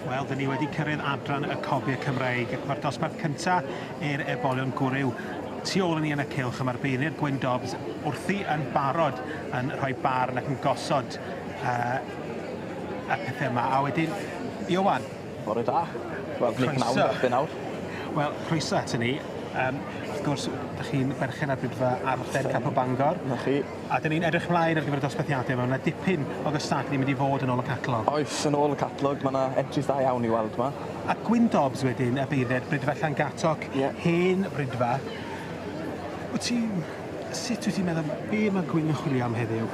Wel, dyn ni wedi cyrraedd adran y cofiau Cymraeg. Mae'r dosbarth cyntaf i'r ebolion gwryw tu ôl yn ni yn y cilch a mae'r beirniad Gwyn Dobbs wrthi yn barod yn rhoi barn ac yn gosod uh, y pethau yma. A wedyn, Iwan, Bore da. Wel ni pnawn 'da chi nawr. Wel croeso aton ni yym wrth gwrs 'dych chi'n berchen ar Brydfa Arth Ed Capel Bangor. 'Na chi. A 'dyn ni'n edrych mlaen ar gyfer y dosbarthiade ma' 'na dipyn o gystadlu yn mynd i fod yn ôl y catalog. Oes yn ôl y catalog ma' 'na entries da iawn i weld 'ma. A Gwyndobs wedyn a beirdd Brydfa Llangatoc. Ie. Hen Brydfa. Wt ti sut wyt ti'n meddwl be' ma' Gwyn yn chwilio am heddiw?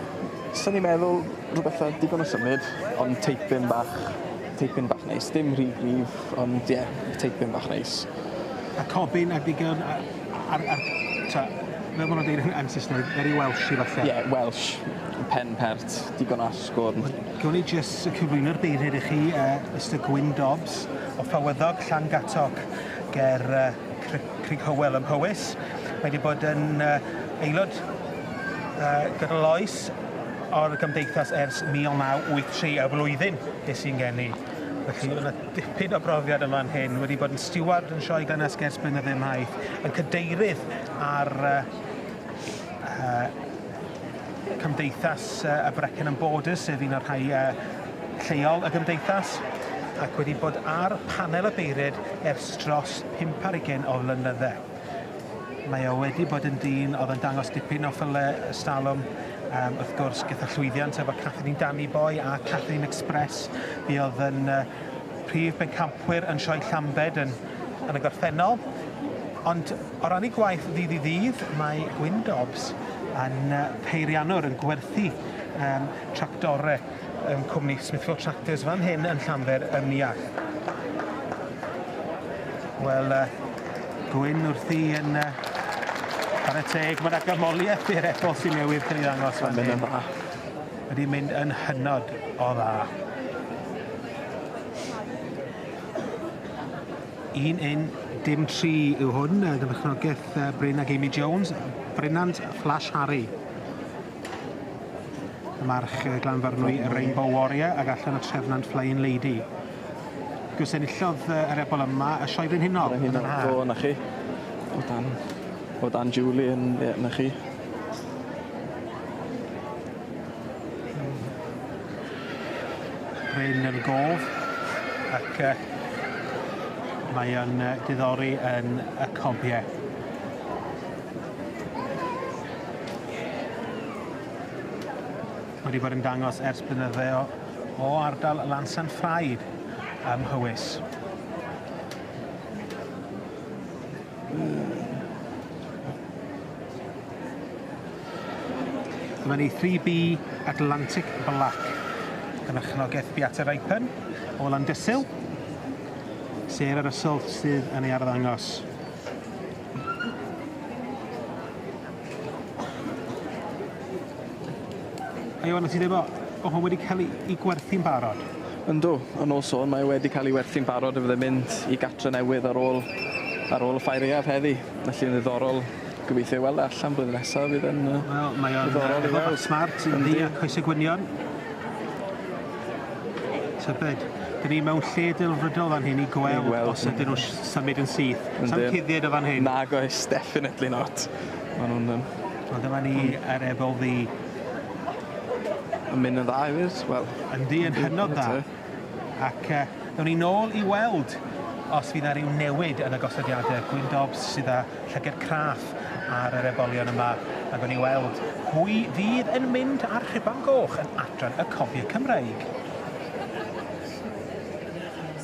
Swn i'n meddwl rwbeth fel digon o symud ond teipyn bach Teipyn bach neis. Dim rhy gryf ond ie, teipyn bach neis. A cobyn a digon a a'r a'r t'o' fel ma' nw'n deud yn yn Sysneg very Welshy falle. Ie, Welsh. Pen pert, digon o asgwrn. Wel, gewn ni jyst y cyflwyno'r beirniad i chi yy Mister Gwyn Dobbs o Fawyddog, Llangattock ger yy Cri- Crug Hywel ym Mhowys. Mae 'di bod yn yy aelod yy gydol oes ar y Gymdeithas ers 1983, y flwyddyn es i'n geni. Felly, mae 'na dipyn o brofiad yn fan hyn. Wedi bod yn stiward yn Sioe Glynnesg ers blynydde maith, yn cadeirydd ar yy Cymdeithas y Brecon and Borders, sef un o'r rhai yy lleol y Gymdeithas, ac wedi bod ar panel y beiried ers dros pump ar ugain o flynydde. Mae o wedi bod yn dyn oedd yn dangos dipyn o ffylle ers talwm. Um, wrth gwrs, gyda llwyddiant efo Catherine Danny Boy a Catherine Express, fi oedd yn uh, prif bencampwyr yn sioe Llambed yn, yn y gorffennol. Ond o ran ei gwaith ddydd i ddydd, mae Gwyn Dobbs yn peirianwr yn gwerthu um, tractore. yn cwmni Smithfield Tractors fan hyn yn Llanfair ym Muallt. Wel, uh, gwyn wrthi yn uh, ar y teg, mae yna gymoliaeth i'r ebol sy'n newydd cael ei ddangos fan hyn. Mae'n dda. Wedi mynd yn hynod o dda. Un un dim tri yw hwn, gyda chnogaeth Bryn ac Amy Jones, Brynant Flash Harry. Y march y glanfarnwy Rainbow Warrior ag allan y trefnant Flying Lady. Gwrs enillodd y rebol yma y Sioe Frenhinol yn yr haf. Do, na chi. O dan, o dan Julie yn, ie, na chi. Bryn yn gof ac uh, mae o'n uh, diddori yn y cobiau. Mae wedi bod yn dangos ers blynydde o, o ardal Lansan Ffraid ym Mhowys. Dyma ni 3B Atlantic Black, y merchnogaeth Beate Ripen o Landysul, Sarah Russell sydd yn ei arddangos. Iwan, wyt ti'n dweud bod o hwn wedi cael ei gwerthu'n barod? Yndw, yn ôl sôn mae e wedi cael ei werthu'n barod a fydd e'n mynd i gartre' newydd ar ôl ar ôl y Ffair Iaf heddi. Felly yn ddiddorol, gobeithio ei weld e allan blwyddyn nesaf, fydd e'n yy... Wel, mae o'n ddiddorol i weld. smart, yndi, a coese gwynion. Tybed, 'dyn ni mewn lle delfrydol fan hyn i gweld os ydyn nhw Sa'm byd yn syth. Yndyn. Sa'm cuddied o fan hyn. Nag oes, definitely not. Ma' nw'n yym... Wel dyma ni ar Ebol Ddu. Yn mynd yn dda hefyd, wel... Yndi, yn hynod dda. Ac yy newn ni nôl i weld os fydd 'na ryw newid yn y gosodiade. Gwyn Dobbs sydd â llyged craff ar yr ebolion yma, a gawn ni weld pwy fydd yn mynd â'r rhuban goch yn adran y cofiau Cymreig.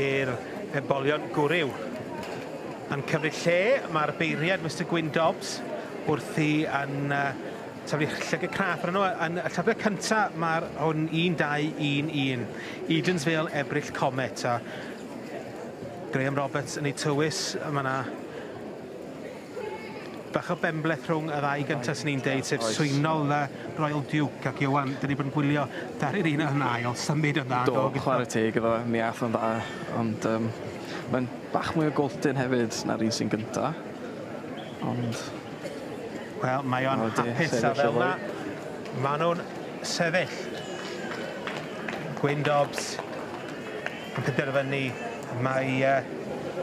i'r ebolion gwryw. Yn cymryd lle, mae'r beirniad Mister Gwyn Dobbs wrthi yn uh, taflu llygad craff arno. Yn y llyfrau cynta, mae'r hwn 1211, Eden's Vale Ebrill Comet, a Graham Roberts yn ei tywys, mae yna Bach o benbleth rhwng y ddau gynta swn i'n deud sef swynol yy Royal Duke ac Iwan 'dan ni bod yn gwylio ddaru'r un yn ail symud yn dda do? Do chware teg iddo fe mi ath o'n dda ond yym mae'n bach mwy o golltyn hefyd na'r un sy'n gynta ond Wel mae o'n hapus a fel ma' ma' nw'n sefyll. Gwyn Dobbs Yn penderfynu mai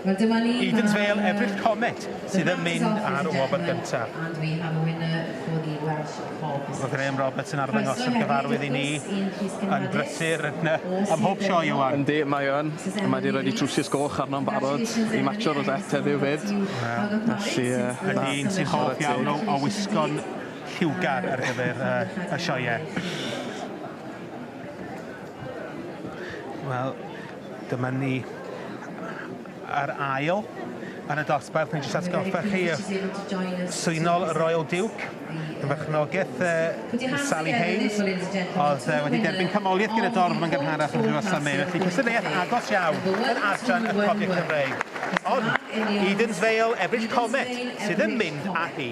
Eden's Vale Ebrill Comet sydd yn mynd ar y wobr gyntaf. Mae Graham Roberts yn arddangos y cyfarwydd i ni yn brysur yn y... Ym mhob sioe, Iwan! Yndi, mae o yn. Mae 'di rhoi trwsus goch arno'n barod i matsio'r rosette heddiw 'fyd. Felly, yy, na. Ydy, un sy'n hoff iawn o o wisgo'n lliwgar ar gyfer y y sioeau. Wel, dyma ni ar ail yn y dosbarth, jyst atgoffa chi y swynol y Royal Duke, y berchnogeth yy Sally Hayes o'dd yy wedi derbyn canmoliaeth gyda dorf yn gynharach yn Rhiwlas am eu felly cystadleuaeth agos iawn yn adran y cofion Cymreig. Ond Eden's Vale, Ebrill Comet sydd yn mynd â hi.